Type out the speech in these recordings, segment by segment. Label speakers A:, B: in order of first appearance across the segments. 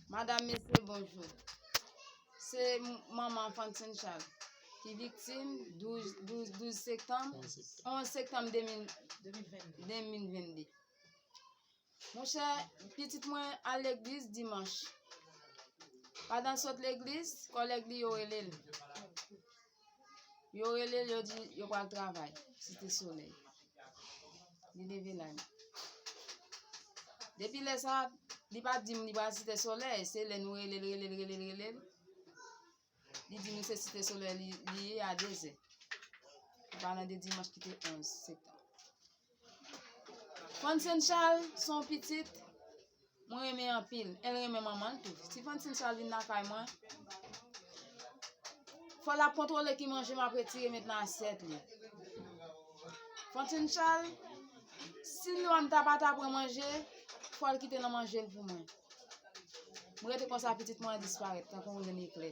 A: Madam mesye bonjou se manman fantin chal ki viktim 12 sektanm 11 sektanm 2022 mwen chè pitit mwen al leglis dimanch padan sot leglis kòlèg li yo relel Yo rele l, yo di yo pral travay. Site Solèy. Li leve la li. Depi lè sa, li pa di m li pral Site Solèy. Se lè nou rele l, rele l, rele l, rele l. Li di nou se Site Solèy li ye a dezè. Li pa nan de dimanch ki te 11 septanm. Francine Charles son pitit mwen renmen anpil. El renmen manman tou. Si Francine Charles vin nan kay mwen, fò la kontrole ki manje m ap retire met nan asyèt li. Francine Charles, si nou an ta pa ta pran manje, fò l kite nan manje l pou mwen. Mwen rete konsa pitit mwen disparèt, tankou yon eklè.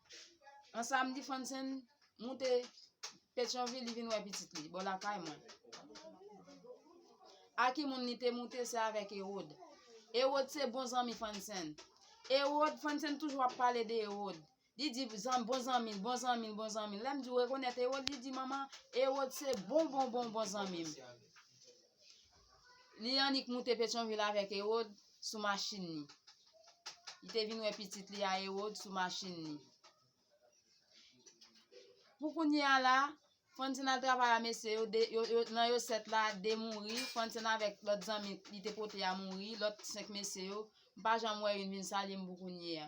A: An samdi Fansen moute Petyonvil li vin wè pitit li, bò lakay mwen. A ki moun li te moute se avèk Erod. Erod se bon zanmi Fansen. Erod, Fansen toujou ap pale de Erod. Li di zan bon zanmi, bon zanmi, bon zanmi. Lèm di ou rekonèt Erod, li di manman, Erod se bon bon bon bon zanmi m. Li annik moute Petyonvil avèk Ewod sou machin ni. Li te vin wè pitit li a Ewod sou machin ni. Pou kounye a la, Francine al travay a mesye yo, de, yo, yo, nan yo sèt la, de mouri, Francine avèk lòt zanmi li te pote a mouri, lòt senk mesye yo, m pa janm wè youn vin salye m pou kounye a.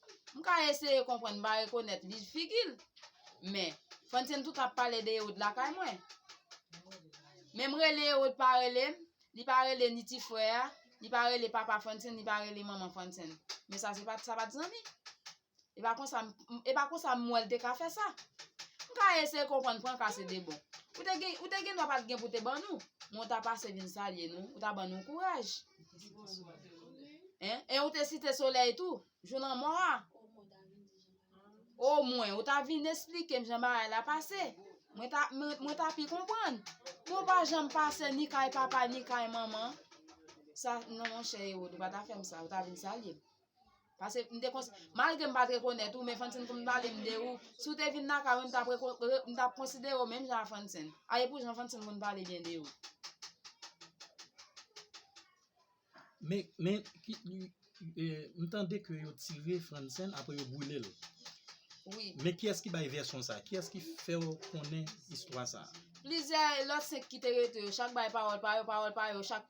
A: M ka eseye konprann, m pa rekonèt li figi l. Men, Frantzen tou tap pale de Erod lakay mwen. Men m rele Erod pa rele m, li pa rele ni ti frè a, li pa rele papa Frantzen, li pa rele manman Frantzen. Men sa se pat sa pat zanmi. E pa konsa, e pa konsa m wè l te ka fè sa. M ka eseye konprann pran ka se de bon. Ou te gen, ou te gen dwa pat gen pou te ban nou, men w ta pase vin salye nou, ou ta ban nou kouraj. E ou te site solèy tou, jou nan mò a. O mwen, ou ta vin esplike m jan ba a la pase. Mwen ta pi konpon. Mwen pa jan m pase ni kay papa ni kay mama. Sa nan mwen chè e ou, ou pa ta fè m sa, ou ta vin salye. Pase m te kons malgre m pat rekonèt ou men Francine konn pale m de ou si w te vin nan kay mwen m tap rekon m tap konsidere w menm jan a Francine a e pou jan Francine konn pale byen de ou
B: Men men ki m tande ke yo tire Francine apre yo boule l Wi
A: Men kiyès ki bay
B: vèsyon sa kiyès ki fè w konnen istwa sa Plizyè lòt 5
A: ki te rete yo chak bay pawòl pa yo pawòl pa yo chak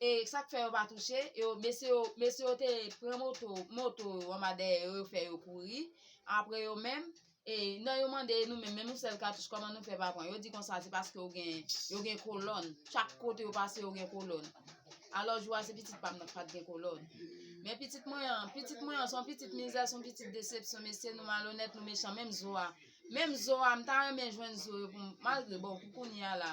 A: E sak fè yo pa touche yo mesye yo mesye yo te pran moto moto yo anba dèyè yo yo fè yo kouri apre yo menm e nan yo mande nou menm menm yon sèl katouch kòman nou fè pa pran yo di konsa se paske yo gen yo gen kolòn chak kote yo pase yo gen kolòn alò jou a se pitit pam nan ki pat gen kolòn men pitit mwen an pitit mwen an son pitit mizè son pitit desepsyon mesye nou malonèt nou mechan menm zo a menm zo a m ta renmen jwenn zo yo pou m malgre bon pou kounya la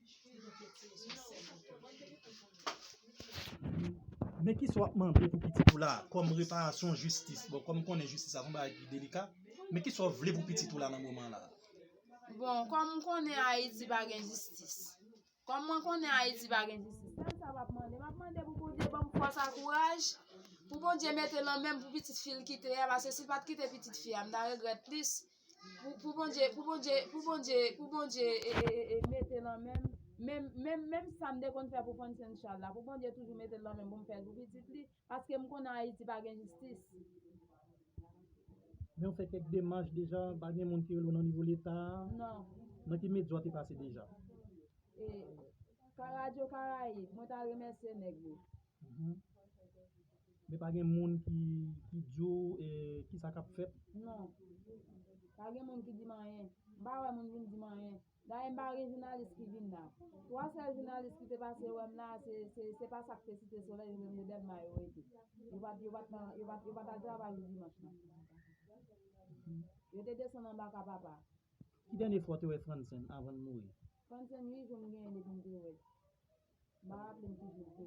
B: Men kisa wap mande pou pitit ou la kom reparasyon jistis. Bon kom konnen jistis la son bagay ki delika. Men kisa w vle pou pitit ou la nan moman la. Bon
A: kom konnen Haiti pa gen jistis. Kom mwen konnen Haiti pa gen jistis. Sel sa map mande. Map mande pou Bondye banm fos ak kouraj. Pou Bondye mete nan menm pou pitit fi l kite a. Pase si l pat kite pitit fi a. M ta regret plis. Pou Bondye, pou Bondye, pou Bondye, pou Bondye e mete lan menm, menm, menm, menm sa m te konn fè pou Frantzen Chal la, pou Bondye toujou mete l lan menm pou m fè l pou pitit li, paske m konnen Ayiti pa gen jistis.
B: Men ou fè kèk demach deja, pa gen moun ki rele w nan nivo leta a? Non. Nan ki
A: medya w te
B: pase deja? E,
A: ka radyo Karayib, mwen ta remèsye nèg yo.
B: Men pa gen moun ki di w kisa k ap fèt? Non.
A: Pa gen moun ki di m anyen. M pa wè moun vin di m anyen. Dayè m pa wè gen jounalis ki vin la. Twa sèl jounalis ki te pase wè m la, se pa sa k te Site Solèy, se te Delma yo rete. Yo pa t al travay jou dimanch lan. Yo te desann anba ka papa. Ki dènye fwa w
B: te wè Frantzen anvan l mouri? Frantzen ui jou m
A: genyen depi m te wè l. Ma raple m toujou se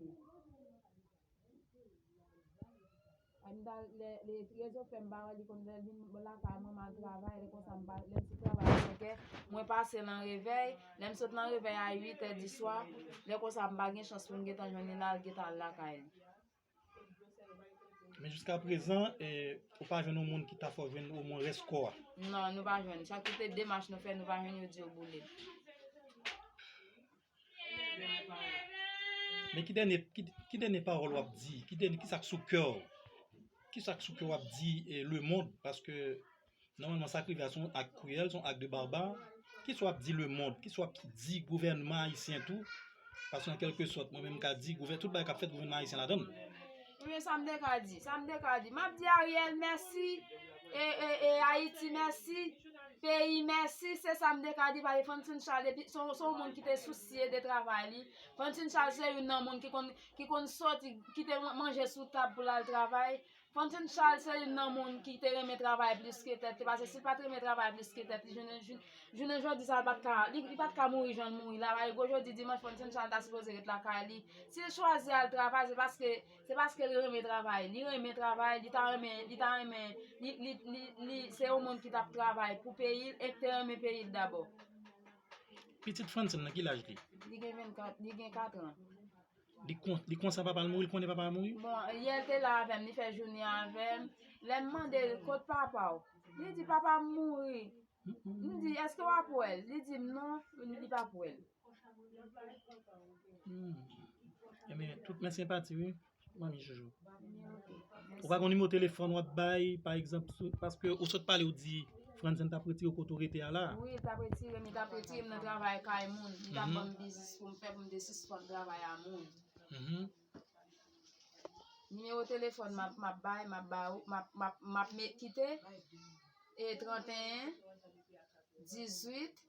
A: Ann ta lè lè rezo fèm pa wèl li konn lèl vin lakay mwen mal travay lè konsa m pa lè m sou travay a 5 è mwen pase l an revèy lè m sot nan revèy a 8 è di swa lè konsa m pa gen chans pou m gentan jwenn li nan l gentan al lakay li.
B: Men jiska prezan, ou pa jwenn yon moun ki ta fè w jwenn o mwen rès kò a? Non, nou pa jwenn.
A: Chak kote demach nou fè, nou pa jwenn yo di yo boule l.
B: Men ki dènye, ki dènye pawòl w ap di? Ki sa k sou kè w? Ki sa k sou kè w ap di lemond? Paske Nòmalman sa k rive a se yon ak kriyèl, se yon ak de barbar, kisa w ap di lemond, kisa w ap di gouvènman ayisyen tou, paske an kèlke sòt mwen menm m ka di gouvè, tout bagay k ap fèt gouvènman ayisyen ladann. Ebyen sa m
A: te ka di, sa m te ka di, m ap di Ariel mèsi, e, e, e Ayiti mèsi, peyi mèsi, se sa m te ka di paske Franswen Chal depi, se yon, se yon moun ki te sousye de travay li, Franswen Chal se youn nan moun ki konn, ki konn sòti, kite manje sou tab pou l al travay. Fantine Charles se youn nan moun ki te renmen travay plis ke tèt li pase si l pat renmen travay plis ke tèt li jounen jodi sa li pat ka mouri jan l mouri la paske gwo jodi dimanch Fantine Charles ta sipoze ret lakay li si l chwazi al travay se paske se paske li renmen travay li renmen travay li ta renmen li ta renmen li se yon moun ki tap travay pou peyi l e ki te renmen peyi l dabò
B: pitit Fantine nan ki laj li? li gen 24
A: li gen 4 an Li
B: konsa papa l mouri, li konnen papa l mouri? Bon, yè l te la
A: avè m, li fè jounen avè m. Lè m mande l, kot papa w? Li di, papa m mouri. M di, èske w ap wè l? Li di m, non, li p ap wè l.
B: Enben, tout men senpati wi, manmi Jojo. Ou ka gen yon nimewo telefòn w ap bay, pa egzanp, paske ou sot pale ou di Franzen t ap retire w kote ou rete a la. Wi, li t ap retire m, li t ap
A: retire m nan travay kay moun, li t ap ban m biznis pou m fè pou m te sispann travay a moun. Nimewo telefòn m ap bay, m ap ba ou, m ap kite, e 31, 18.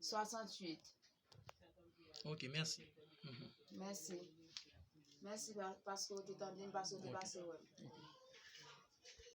A: 68.
B: Ok, mèsi. Mèsi.
A: Mèsi paske ou te tande m, paske ou te pase wè m.